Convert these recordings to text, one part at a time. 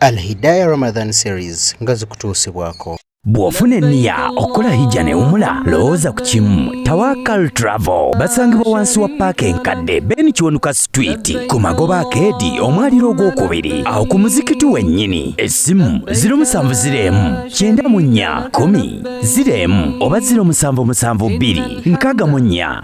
Alhidaya Ramadan Series nga zikutuusibwako. Bw'ofuna enniya okukola hijja newumula lowooza ku kimu Tawakal Travel basangibwa wansi wa paaka enkadde Ben Kiwanuka Street ku magoba akeedi omwaliro ogwokubiri awo ku muzikiti wennyini essimu ziro musanvu ziro emu kyenda mu nnya kumi ziro emu oba ziro musanvu musanvu bbiri nkaaga mu nnya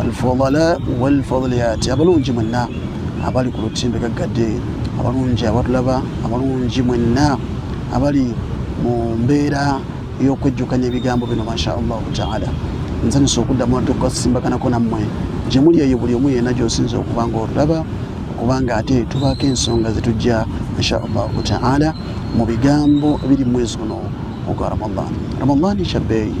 alfudala walfudaliyati abalungi mwenna abali ku lutimbe gaggadde abalungi abatulaba abalungi mwenna abali mu mbeera y'okwejjukanya ebigambo bino masha allahu taala nsanyusa okuddamu ate okukasimbaganako nammwe gye muli eyo buli omu yena gyosinza okuba nga otulaba kubanga ate tubaako ensonga zetujja insha allahu taala mu bigambo biri mwezi guno ogwa ramadan ramadan kyabbeeyi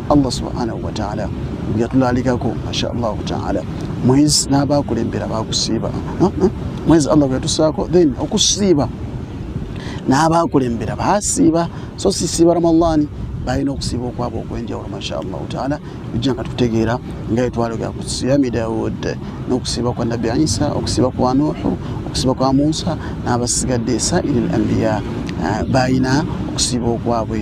allah subhanahu wataala yatulalikako mashallahu taala mwezi nabakulembera bakusiiba mwezi allah gwetusaako then okusiiba nabakulembera basiiba so sisiiba ramadhani balina okusiiba okwaba okwenjawulo mashallahu taala ujja nga tutegeera nga etwalogera ku siyami daud nokusiiba kwa nabbi isa okusiiba kwa nuhu okusiiba kwa musa nabasigadde sairi l ambiya eh, balina okusiiba okwabwe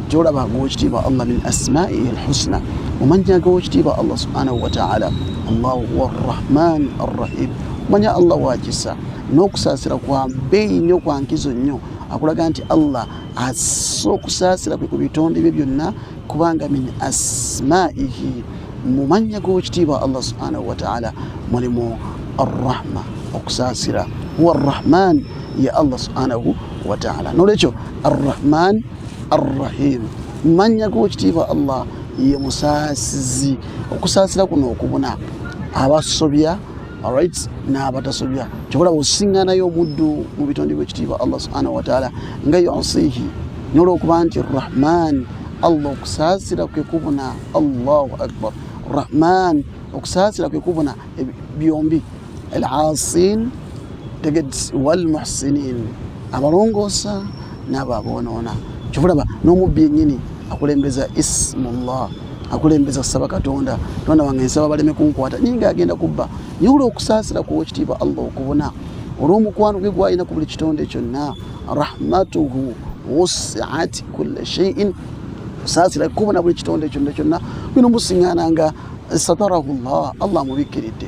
gyolaba ng'owekitiibwa allah min asmaihi alhusna omanya g'owekitiibwa allah subhanahu wataala allahu huwa arrahman arrahim omanya allah wakisa n'okusaasira kwa bbeeyi nnyo kwa nkizo nnyo akulaga nti allah assa okusaasira kwe ku bitonde bye byonna kubanga min asmaihi mu mannya g'owekitiibwa allah subhanahu wataala mulimu arrahma okusaasira huwa arrahman ye allah subhanahu wataala n'olwekyo arrahman arrahim mannya g'okitiibwa allah ye musaasizi okusaasira kuno okubuna abasobya alright n'abatasobya kyobola bwosiŋŋanayo omuddu mu bitonde by'ekitiibwa allah subhanahu wataala nga yosihi n'olwokuba nti rahman allah okusaasira kwe kubuna allahu akbar rahman okusaasira kwe kubuna byombi alaasin tegedsi walmuhsinin abalongoosa n'abo aboonoona kyova olaba n'omubbi yennyini akulembeza ismullah akulembeza kusaba katonda tonda wange nsaba baleme kunkwata naye nga agenda kubba naye olwokusaasira kuwa ekitiibwa allah okubona olw'omukwano gwe gwalina ku buli kitonde kyonna rahmatuhu wusiat kulla sheiin osaasira kubona buli kitonde kyonna kyonna bino musiŋana nga satarahu llah allah amubikkiridde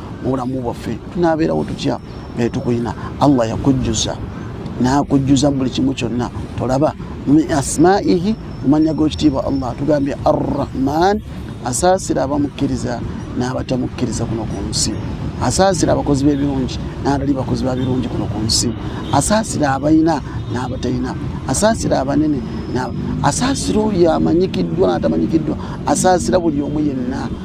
mubulamu bwaffe tunabeerawo tutya naye tukulina allah yakujjuza nakujjuza mubuli kimu kyonna tolaba min asmaihi mumanya gokitiibwa allah tugambye arrahman asaasira abamukkiriza n'abatamukkiriza kuno ku nsi asaasira abakozi b'ebirungi n'abatali bakozi ba birungi kuno ku nsi asaasira abalina n'abatalina asaasira abanene asaasira oyo amanyikiddwa n'atamanyikiddwa asaasira buli omu yenna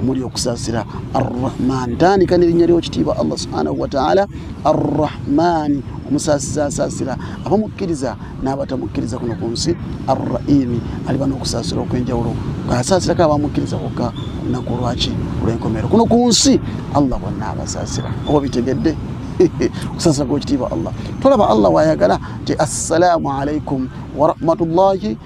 omuli okusaasira arrahmaani tandika nerinnya lyokitiibwa allah subhanahu wataala arrahmaani omusaasiza asaasira abamukkiriza n'abatamukkiriza kuno ku nsi arraimi aliba n'okusaasira okw'enjawulo asaasirako abamukkiriza kokka olunaku lwaki olw'enkomeero kuno ku nsi allah bonna abasaasira oba bitegedde okusaasira kwekitiibwa allah tolaba allah waayagala nti assalaamu alaikum warahmatullahi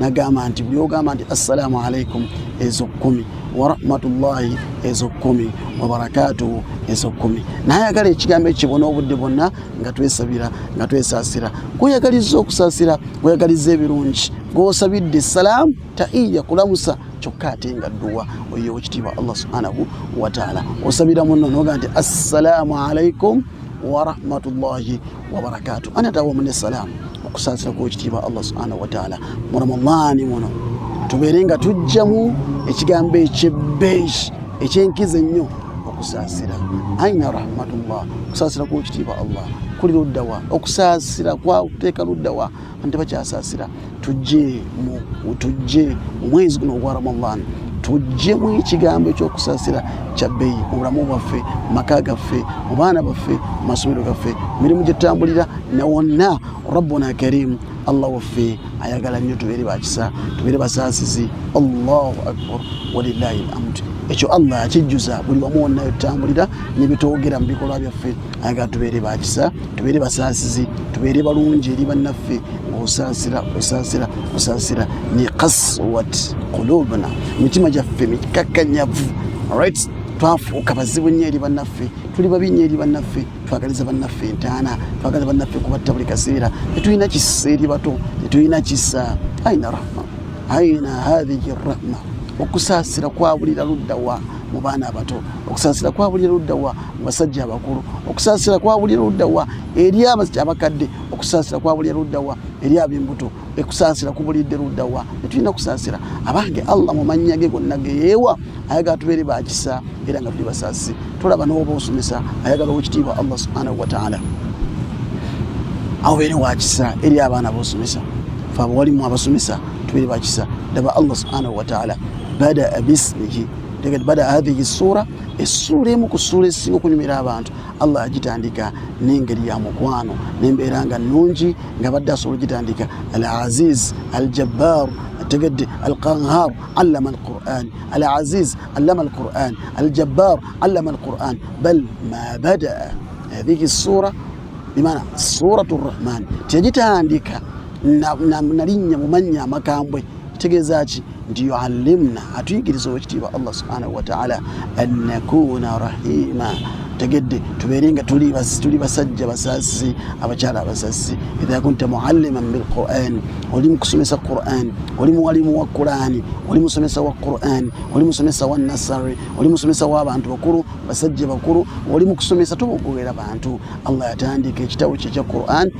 nagamba nti buli ogamba nti assalamu alaikum ezo kumi warahmatullahi ezo kumi wabarakatuhu ezo kumi nayagala ekigambo ekibona obudde bwonna nga twesabira nga twesasira gweyagaliza okusasira gweyagaliza ebirungi gwosabidde essalaamu taiya kulamusa kyokka ate nga dduwa oyo okitiibwa allah subhanahu wataala osabira munno noga nti assalamu alaikum warahmatullahi wabarakatu anata wamu nesalaamu okusaasira kwekitiibwa allah subhanahu wataala mu ramadaani muno tubeere nga tujjamu ekigambo ekyebbeeyi ekyenkizo ennyo okusaasira aina rahmatullah okusaasira kwekitiibwa allah kuli luddawa okusaasira kwakuteeka luddawa ante bakyasasira tujje mu tujje omwezi guno ogwa ramadan tujje mu ekigambo ekyokusasira kyabbeyi mu bulamu bwaffe maka gaffe mu baana baffe mu masomero gaffe mirimu gyetutambulira ne wonna rabbuna karimu allah waffe ayagala nnyo tubeere bakisa tubeere basaasizi allahu akbar walilahi lhamdu ekyo allah akijjuza buli wamu wonna yetutambulira nebitwogera mu bikolwa byaffe aga tubeere bakisa tubeere basaasizi tubeere balungi eri bannaffe osaasira osaasira osaasira ne kaswat kulubna mitima gyaffe mikakkanyavu right twafuuka bazibu nnyo eri bannaffe tuli babi nnyo eri bannaffe twagaliza bannaffe entaana twagaliza bannaffe kubatta buli kaseera tetulina kisa eri bato tetulina kisa aina rahma aina hadhihi rahma okusaasira kwabulira luddawa mu baana abato okusaasira kwa buli ludda wa mu basajja abakulu okusaasira kwa buli ludda wa eri abakadde okusaasira kwa buli ludda wa eri ab'embuto ekusaasira kubulidde ludda wa tetulina okusaasira abange allah mu mannya ge gonna geyeewa ayagala tubeere bakisa era nga tuli basaasi tulaba n'oba osomesa ayagala owekitiibwa allah subhanahu wataala awobeere wakisa eri abaana bosomesa fe abawalimu abasomesa tubeere bakisa daba allah subhanahu wataala bada bismihi tegati bada hadhihi sura essuula emu ku ssuula ezisinga okunyumira abantu allah agitandika n'engeri ya mukwano nembeera nga nnungi nga badde asobola ogitandika al aziz al jabbar tegedde al qanhar allama al quran al aziz allama al quran al jabbar allama al quran bal ma badaa hadhihi ssuura bimana suratu rrahman teyagitandika nalinnya mu mannya amakambwe kitegeeza ki nti yuallimna atuyigiriza owekitiibwa allah subhanahu wataala annakuna rahima tegedde tubeere nga tuli basajja basasi abakyala abasasi idha kunta mualliman bilquran oli mukusomesa quran oli muwalimu wa qurani oli musomesa wa quran oli musomesa wa nasary oli musomesa wabantu bakulu basajja bakulu oli mukusomesa tobogobera bantu allah yatandika ekitabo kye ekya quran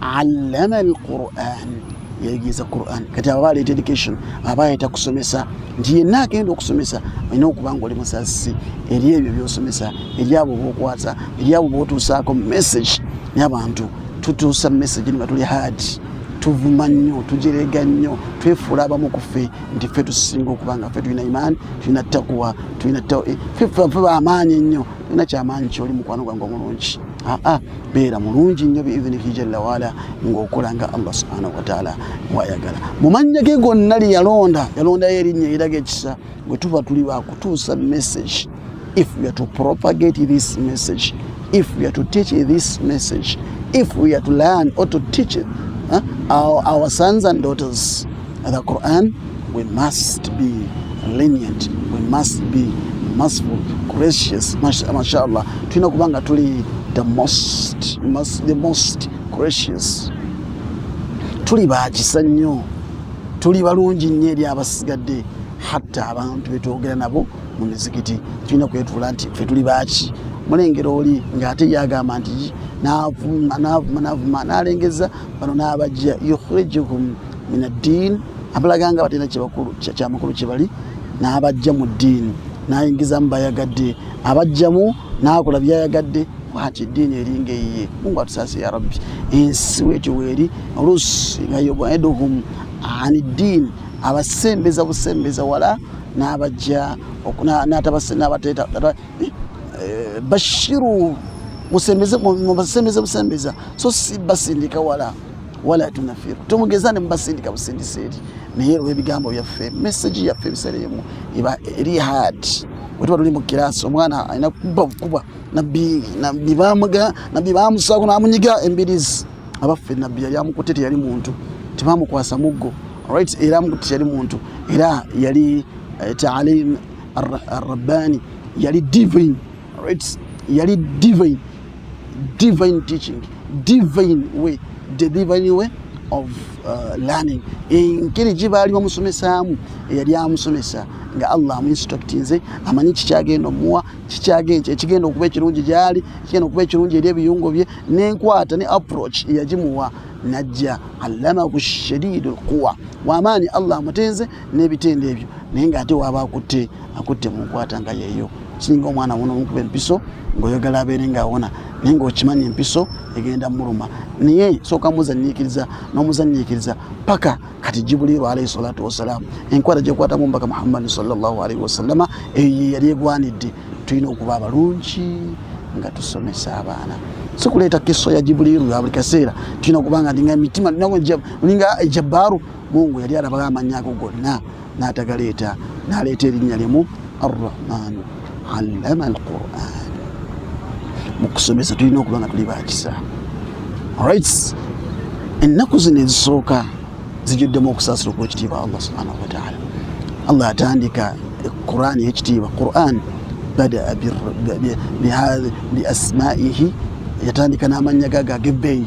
allamani quran yayigiiza quran kati aba baleeta education aba yayita kusomesa nti yenna agenda okusomesa olina okuba nga oli musasi eri ebyo byosomesa eri abo bokwasa eri abo botuusaako message nabantu tutuusa message niba tuli hard tuvuma nnyo tujerega nnyo twefuula abamu ku ffe nti ffe tusinga okuba nga ffe tulina imaani tulina takuwa tulina fe bamaanyi ennyo tulina kyamaanyi kyoli mukwano gwange omulungi aa beera mulungi nnyo biidhinihi jalla waala ng'okola nga allah subhanahu wataala bwayagala mu mannya ge gonna lye yalonda yalondayo erinnya eraga ekisa bwe tuba tuli bakutuusa message if we are to propagate this message if we are to teach this message if we are to learn or to teach it, huh? our, our sons and daughters The Quran, we must be lenient, we must be merciful, gracious. Mashallah, tulina kuba nga tuli the most, the most gracious. Tuli bakisa nnyo, tuli balungi nnyo eri abasigadde hatta abantu betwogera nabo mu mizikiti tulina kwetuula nti fe tuli baaki mulengera oli ngaate yagamba nti navuma navuma navuma nalengeza bano nabajja yukhrijukum minaddiini abalaga nga batalina kyebakulu kyamakulu kyebali n'abajja mu ddiini n'ayingizamu bayagadde abajjamu n'akola byayagadde bwati eddiini eringa eyiye mungu atusaasi ya rabbi ensi wetyo weeri oluusi nga yobaiduhum ani ddiini abasembeza busembeza wala n'abajja n'atabasenabateta eh, eh, bashiru musembeze busembeza so si basindika wala wala tunafiru tomugeza ne mubasindika busindisa eri naye olwebigambo byaffe mesagi yaffe ebiseera emu eba eri hard wetuba tuli mu kirasi omwana alina kuba bukuba nabbi bamusaako namunyiga embirizi abaffe nabbi yali amukutte teyali muntu tebamukwasa muggo right era amukutte teyali muntu era yali eh, taalim arrabbani yali divine right yali divine divine teaching divine way the divine way of uh, learning engeri gye baali bamusomesaamu eyali amusomesa nga allah amuinstructinze amanyi kikyagenda omuwa kikyagenda ekigenda okuba ekirungi gyali ekigenda okuba ekirungi eri ebiyungo bye nenkwata ne approach eyagimuwa najja allamahu shadidu lkuwa wamaanyi allah amutenze n'ebitendo ebyo naye nga ate waaba akutte akutte mu nkwata nga yeeyo singa omwana wona omukuba empiso ngaoyagala abeere nga awona naye ngaokimanyi empiso egenda muluma naye sooka muzanyiikiriza n'omuzanyiikiriza paka kati jibuliiru alaihi salatu wassalaamu enkwata gyekwatamu mbaka muhammadi salllahu alaihi wasallama eyo yeyali egwanidde tulina okuba abalungi nga tusomesa abaana sikuleeta kiso ya jibuliiru ya buli kaseera tulina okuba nga ndinga emitima olinga ejabaaru mungu yali alabao amanyako gonna n'atagaleeta n'aleeta erinnya limu arrahmanu allama alquran mu kusomesa tulina okuba nga tuli bakisa rights ennaku zino ezisooka zijuddemu okusaasira okwekitiibwa allah subhanahu wataala allah atandika quran eyekitiibwa quran badaa biasmaihi yatandika n'amannya gaga ag'ebbeeyi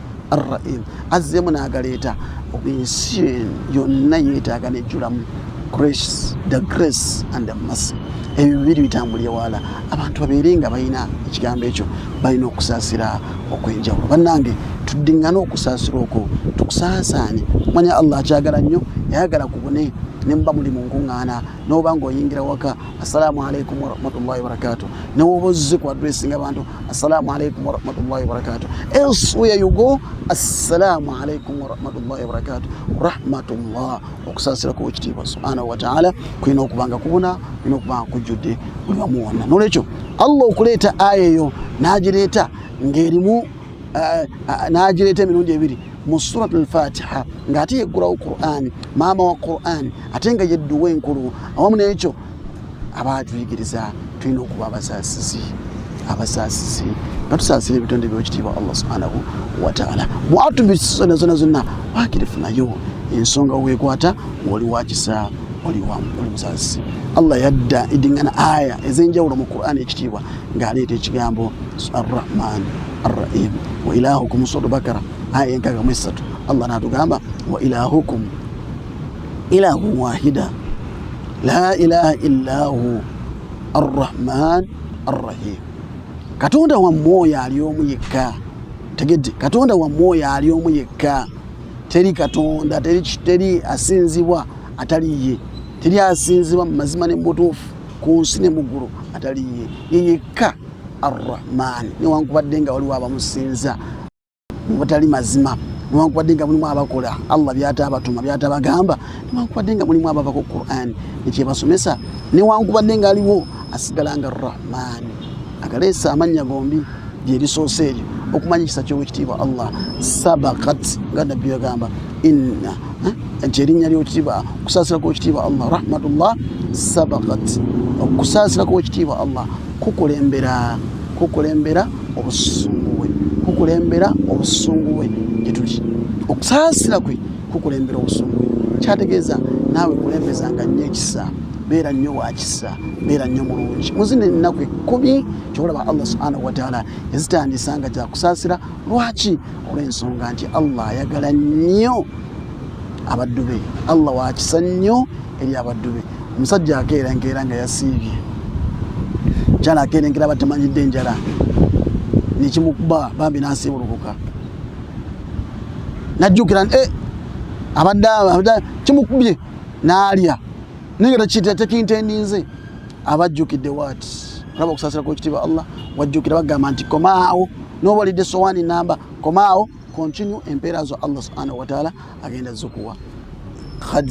arraim azzeemu n'agaleeta ensi yonna yeetaaga nejjulamu grace the grace and the mercy ebyo bibiri bitambulye wala abantu babeere nga balina ekigambo ekyo balina okusaasira okwenjawulo bannange tuddiŋŋane okusaasira okwo tukusaasaanye kumanya allah akyagala nnyo yayagala kubune ne muba muli mu nkuŋŋaana noba nga oyingira waka assalamu alaikum warahmatullahi wabarakatu newoba ozze ku adressinga abantu assalamu alaikum warahmatullahi wabarakatu elswhere you go assalamu alaikum warahmatullahi wabarakatu rahmatullah okusaasira ku ekitiibwa subhanahu wataala kulina okubanga kubuna kulina okubanga kujjudde buli wamu wonna nolwekyo allah okuleeta aya eyo nagireeta ng'erimu eh, eh, n'agireeta emirundi ebiri mu surat alfatiha ng'ate yeggulawo qur'ani maama wa qur'ani ate nga yedduwa enkulu awamu n'ekyo aba atuyigiriza tulina okuba abasaasizi abasaasizi nga tusaasira ebitonde byokitiibwa allah subhanahu wataala mwatubisona zona zonna wakirifunayo ensonga wekwata ngaoli wakisa oli musaasizi allah yadda edingana aya ez'enjawulo mu qur'ani ekitiibwa ng'aleeta ekigambo arrahman arrahim wa ilahukum sura bakara aya enkaga mu essatu allah n'atugamba wa ilahukum ilahu wahida la ilaha illa hu arrahman arrahim katonda wammwe oyo ali omu yekka tegedde katonda wammwe oyo ali omu yekka teri katonda teri asinzibwa atali ye teri asinzibwa mu mazima ne mubutuufu ku nsi ne muggulu ataliye ye yekka arrahman newankubadde nga waliwo abamusinza mubatali mazima newankubadde nga mulimu abakola allah byatabatuma byatabagamba newankubadde nga mulimu abavako quran nekyebasomesa newankubadde nga aliwo asigala nga rahman akaleese amannya gombi byebisoose ebyo okumanya ekisa kyowekitiibwa allah sabakat nga nabbi yagamba inna eh, nti erinnya lyokitiibwa okusaasira kwekitiibwa allah rahmatullah sabakat okusaasira kwekitiibwa allah kukulembera kukulembera obusungu bwe kukulembera obusungu bwe gyetuli okusaasira kwe kukulembera obusungu kyategeeza naawe kulembeza nga nnyo ekisa beera nnyo wakisa beera nnyo mulungi muzina ennaku ekkumi kyobalaba allah subhanahu wataala yazitandisa nga gyakusaasira lwaki olw'ensonga nti allah ayagala nnyo abaddu be allah wakisa nnyo eri abaddu be omusajja akeera enkeera nga yasiibye kyala akeera enkeera batamanyidde enjala nekimukuba bambi nasiibulukuka najjukira nti eh, abadde kimukubye n'alya naye nga tekintendinze abajjukidde waati olaba okusaasira kwekitiibwa allah wajjukira bagamba nti komaawo nobalidde sowaani namba komaawo continue empeera zo allah subhanahu wataala agenda zukuwa khad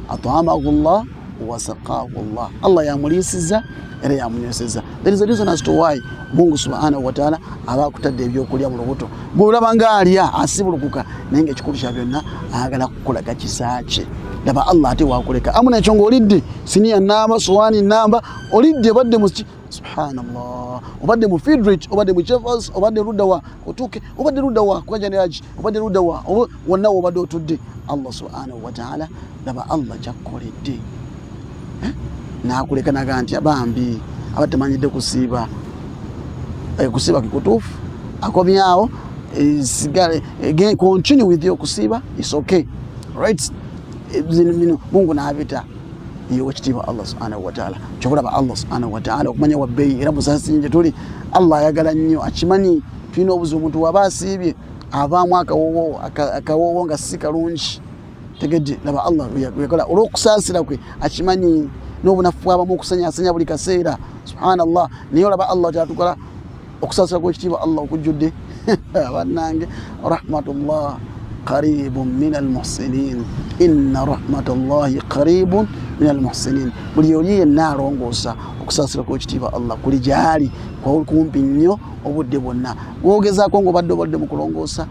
at'amahu Allah wa saqahu Allah Allah yamuliisiza era yamunyweseza there is a reason as to why Mungu subhanahu wa ta'ala aba akutadde ebyokulya mu lubuto bw'olaba nga alya asibulukuka naye nga ekikulu kya byonna ayagala kukulaga kisa kye laba Allah ate wakuleka amu nekyo ng'olidde siniya namba sowaani namba olidde badde mu subhanallah obadde mu fidrit obadde mu jevas obadde ludawa otuuke obadde ludawa kukajaniraji obadde ludawa wonna wobadde otudde allah subhanahu wataala laba allah kyakkoledde eh? nakuleka naga nti abambi aba temanyidde kusiiba eh, kusiiba kikutuufu akomyawo eh, sigale continue with okusiiba is okay right mungu nabita yewekitiibwa allah subhanahu wataala kyokulaba allah subhanahu wataala okumanya wabbeeyi era musasinyi gyetuli allah ayagala nnyo akimanyi tulina obuzibu omuntu waba asiibye avaamu akawoowo akawoowo nga si kalungi tegedde laba allah yakola olwokusaasira kwe akimanyi n'obunafu bwabamu okusanyasanya buli kaseera subhanallah naye olaba allah kyatukola okusaasira kwekitiibwa allah okujjudde bannange rahmatullah qaribun min almuhsinin inna rahmatullahi qaribun min almuhsinin buli oli yenna alongoosa okusaasira kwekitiibwa allah kuli gyali kumpi nnyo obudde bwonna gwogezaako ngaobadde obadde mu kulongoosa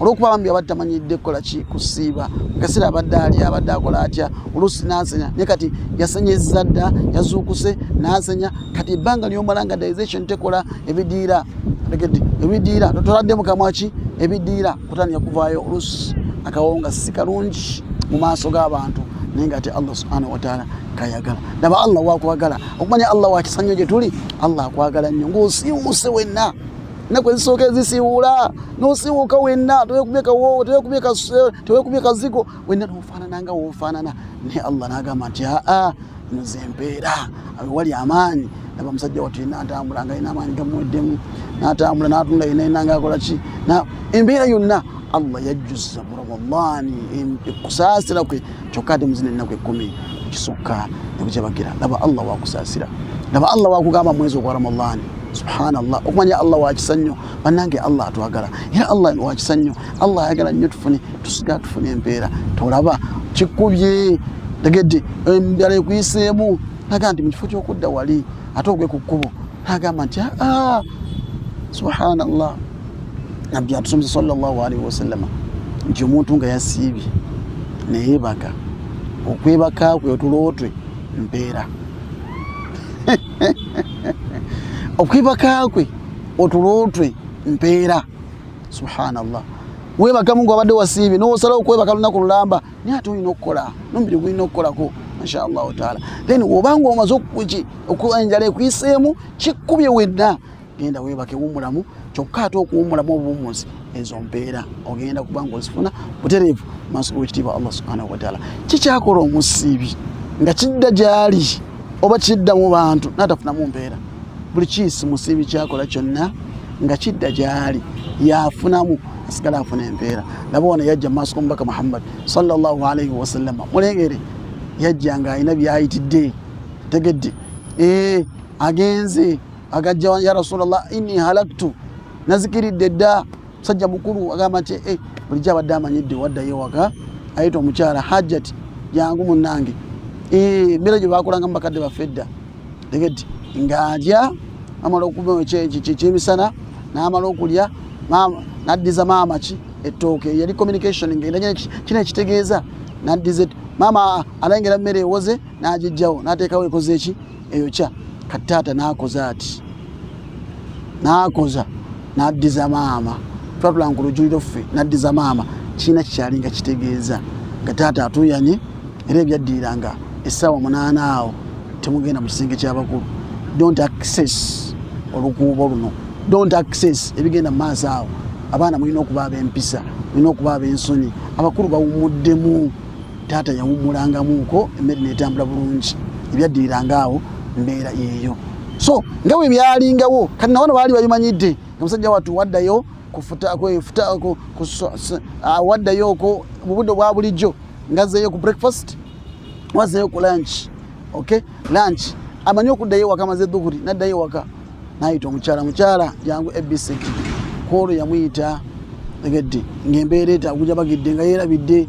olwokuba bambi abadde tamanyidde kukola ki kusiiba kaseera abadde ali abadde akola atya oluusi nasenya naye kati yasenyezza dda yazuukuse nasenya kati ebbanga lyomala nga dization tekola ebidiira tegedde ebidiira totoladde mukamwa ki ebidiira kutandika kuvaayo oluusi akawonga si kalungi mu maaso g'abantu naye nga ate allah subhanahu wataala kayagala naba allah wakwagala okumanya allah wakisanyo gyetuli allah akwagala nnyo ngaosiiwuuse wenna ennaku ezisooka ezisiwuula nosiwuuka wenna tewekubye kawoowo tewekubye kazigo wenna nofaanana nga wofaanana naye allah nagamba nti aa nze mpeera awewali amaanyi naba musajja watu yena atambula nga yina amaanyi gamuweddemu natambula natunda yena yena nga akola ki embeera yonna allah yajjuza mu ramadaani okusaasira kwe kyokka ate muzina ennaku ekkumi kisukka ne bukyabagira laba allah wakusaasira laba allah wakugamba mwezi ogwa ramadhani subhanallah okumanya allah wakisa nnyo bannange allah atwagala era allah wakisa nnyo allah ayagala nnyo tufune tusiga tufune empeera tolaba kikubye tegedde embala ekuyiseemu naga nti mu kifo ky'okudda wali ate ogwe ku kkubo agamba nti aa ah, ah, subhanallah nabbi atusomesa sallallahu alaihi wasallama nti omuntu nga yasiibye neyebaka okwebaka kwe otulootwe mpeera okwebaka kwe otulootwe mpeera subhanallah webaka mungu abadde wasiibye nosalawo okwebaka lunaku lulamba naye ate olina okukola nomubiri gulina okukolako inshallahu taala then wobanga omaze enjala ekuyiseemu kikkubye wenna genda webake wumulamu kyokka ate okuwumulamu obuwumuzi ezo mpeera ogenda kubanga ozifuna butereevu maaso g'ekitiibwa allah subhanahu wataala kikyakola omusiibi nga kidda gyali oba kidda mu bantu naatafunamu mpeera buli kiisi musiibi kyakola kyonna nga kidda gyali yafunamu asigala afuna empeera naba wano yajja mumaaso gomubaka muhammad salllahalaihi wasallama mulengere yajja nga alina byayitidde tegedde eh, agenze agajja ya rasulllah ini halaktu nazikiridde dda musajja mukulu agamba nti eh, bulijjo abadde amanyidde waddayo waka ayita omukyala hajjati jangu munange eh, embeera gye bakolanga mubakadde baffe dda tegedde ng'alya amala okukyemisana n'amala okulya n'addiza maama ki ettooke yali communication ng'enda kino ekitegeeza n'addiza maama alengera mmere ewoze n'agijjawo n'ateekawo ekoze eki eyokya kati taata n'akoze ati nakoza naddiza maama twatula ku lujuliro ffe naddiza maama kirina kikyali nga kitegeeza nga taata atuyanye era ebyaddirira nga essaawa munaana awo temugenda mu kisenge kyabakulu don't access olukuubo luno don't access ebigenda mu maaso awo abaana mulina okuba ab'empisa mulina okuba ab'ensonyi abakulu bawumuddemu taata yawummulangamuuko emmere netambula bulungi ebyaddiriranga awo mbeera yeeyo so nga bwe byalingawo kati nawano baali babimanyidde omusajja watu waddayo waddayo ko mubudde obwa bulijjo ngazeeyo ku breakfast wazeeyo ku lunch ok lunch amanyi okuddayo ewaka maze dhuhuri naddayo ewaka nayita omukyala mukyala jangu ebisek kwolwo yamuyita egedde ngaembeera etaguja bagidde nga yerabidde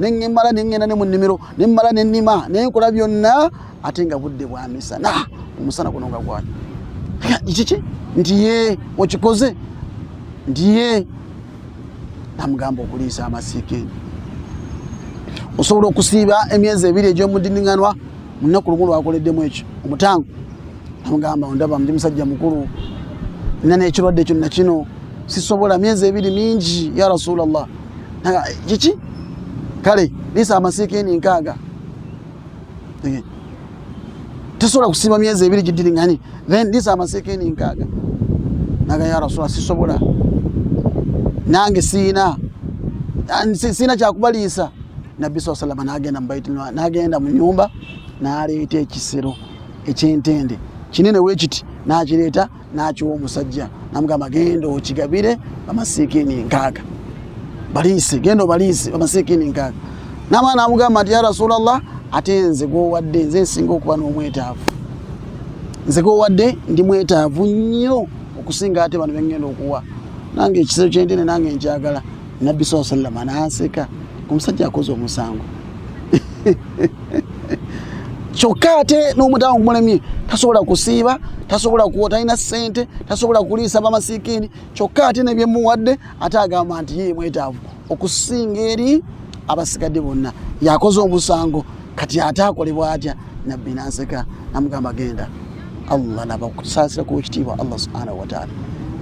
neŋŋemala ne ŋŋenda ne mu nnimiro ne mmala ne nnima ne nkola byonna ate nga budde bwa misana omusana guno nga gwali kiki nti ye okikoze nti ye namugamba okuliisa amasiika eno osobola okusiiba emyezi ebiri egy'omudiniŋanwa mu nnaku lumu lwakoleddemu ekyo omutango namugamba ondaba ndi musajja mukulu nina n'ekirwadde kyonna kino sisobola myezi ebiri mingi ya rasulallah kiki kale liisa amasiikini nkaaga tesobola kusiima myezi ebiri gidiringani then liisa amasiikini nkaaga naga ya rasula sisobola nange siina siina kyakubaliisa nabbi saa salama nagenda mubaiti nagenda mu nyumba naleeta ekisero ekyentende kinene wekiti nakireeta n'akiwa omusajja namugamba genda okigabire bamasiikini nkaaga baliise genda obaliise bamasiikini nkaaga namala namugamba nti ya rasulllah ate nze gwowadde nze nsinga okuba n'omwetaavu nze gwowadde ndi mwetaavu nnyo okusinga ate bano bengenda okuwa nange ekisero kyentene nange nkyagala nabbi saa sallama nanseka omusajja akoze omusango kyokka ate n'omutawa gumulemye tasobola kusiiba tasobola kuwa talina ssente tasobola kuliisa bamasikiini kyokka ate nebyemuwadde ate agamba nti ye mwetaavu okusinga eri abasigadde bonna yakoze omusango kati ate akolebwa atya nabbi nanseka namugamba genda allah nabakusaasira ku ekitiibwa allah subhanahu wataala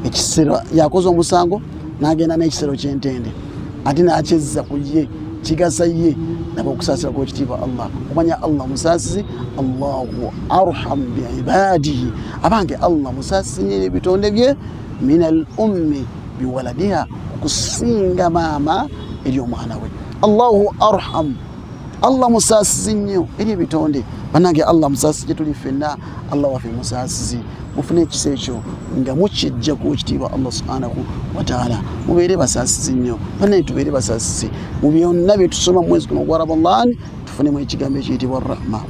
ekisero yakoze omusango nagenda n'ekisero kyentende ate nakyezza ku ye kigasa ye naba okusaasira ku ekitiibwa allah omanya allah musaasizi allahu arhamu biibaadihi abange allah musaasizi nyo ebitonde bye min al ummi biwaladiha okusinga maama eri omwana we allahu arhamu allah musaasizi nnyo eri ebitonde banange allah musaasizi gyetuli ffenna allah waffe musaasizi mufune ekisa ekyo nga mukijja ku ekitiibwa allah subhanahu wataala mubeere basaasizi nnyo banange tubeere basaasizi mu byonna byetusoma mu mwezi guno gwa ramadan tufunemu ekigambo ekiyitibwa rahma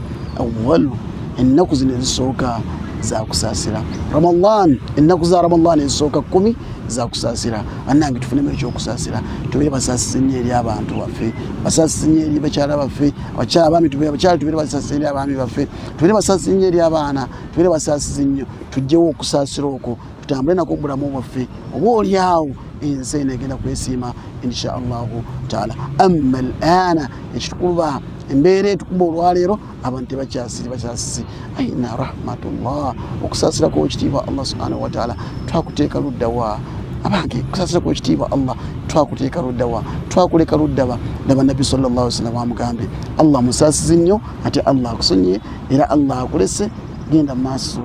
awalu ennaku zino ezisooka zakusaasira ramadan ennaku za ramadan ezisooka kkumi zakusaasira bannange tufunemu ekyokusasira tubeere basasisi nnyo eri abantu baffe basasisi nnyo eri bakyala baffe abakyala abaami abakyala tubeere basasisi eri abaami baffe tubeere basasisi nnyo eri abaana tubeere basasisi nnyo tugyewo okusaasira okwo tutambule nako obulamu bwaffe oba oli awo ensi eno egenda kwesiima insha allahu taala amma al ana ekitukuba embeera etukuba olwaleero abantu tebakyasiri bakyasisi aina rahmatullah okusaasira kwekitiibwa allah subhanahu wataala twakuteeka luddawa abange okusaasira kwekitiibwa allah twakuteeka luddawa twakuleka luddaba naba nabbi salllah sallam amugambye allah musaasizi nnyo ate allah akusonyiye era allah akulese genda mu maaso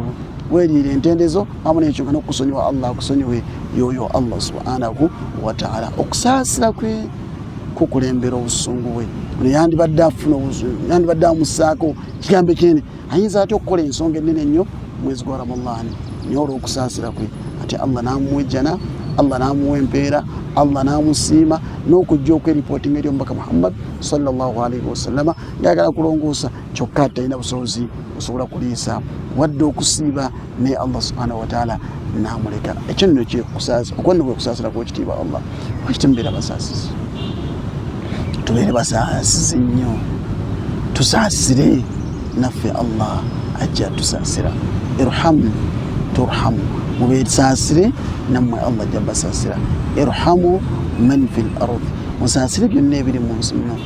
weriire entendezo amu nekyo nga nokusonyiwa allah akusonyiwe yoyo allah subhanahu wataala okusaasira kwe kukulembera obusungu bwe ono yandibadde afuna obusungu yandibadde amusaako kigambo kyene ayinza atya okukola ensonga ennene ennyo mwezi gwa ramadhani naye olwokusaasira kwe ati allah namuwejjana allah namuwa empeera allah namusiima n'okujja okweripotinga eri omubaka muhammad salllahalaihi wasallama ngayagala kulongoosa kyokka talina busobozi osobola kuliisa wadde okusiiba naye allah subhanahu wataala namuleka ekyo nno kyekusaaza okwanno kwekusaasira kwekitiibwa allah lwakiti mubeera basaasizi tubeere basaasizi nnyo tusaasire naffe allah ajja tusaasira irhamu turhamu mubesaasire nammwe allah ajja basaasira irhamu man fi l ardi musaasire byonna ebiri mu nsi muno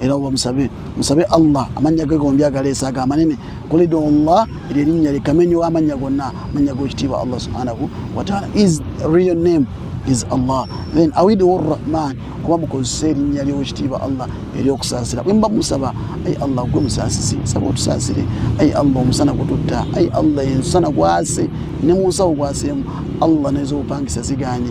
era oba musabe musabe allah amannya ge gombi agaleesa ago amanene kulida allah eryo erinnya likamenyi wa amannya gonna amannya g'ekitiibwa allah subhanahu wataala is real name is allah then awidiwa orrahman kuba mukozesa erinnya ly'owekitiibwa allah eryokusaasira bwe mba musaba ayi allah gwe musaasisi saba otusaasire ayi allah omusana gututta ayi allah ensana gwase ne munsawo gwaseemu allah nez'obupangisa ziganye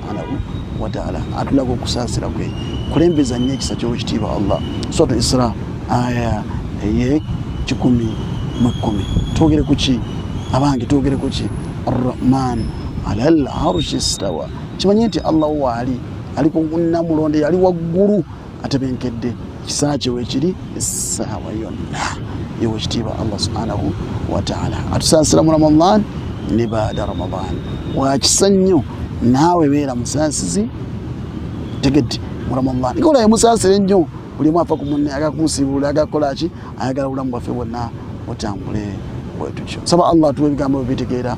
wataala atulaga okusaasira kwe kulembeza nnyo ekisa ky'obukitiibwa allah suratu isra aya eye kikumi mu kkumi twogere ku ki abange twogere ku ki arrahman ala l arushi stawa kimanye nti allah waali ali ku namulonde yali waggulu atebenkedde ekisa kye weekiri essaawa yonna ewe kitiibwa allah subhanahu wataala atusaasira mu ramadan ne baada ramadan wakisa nnyo naawe beera musaasizi tegedde mu ramadan ngolaye musaasira ennyo buli omu afa ku munne agakunsibuula agakola ki ayagala obulamu bwaffe bwonna butambule bwetutyo saba allah tuwa ebigambo bibitegeera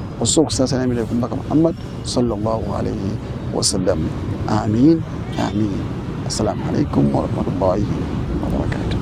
Osobola okusaasana emirembe ku Mbaka Muhammad sallallahu alaihi wasallam. Amin, amin. Assalamu alaikum warahmatullahi wabarakatuh.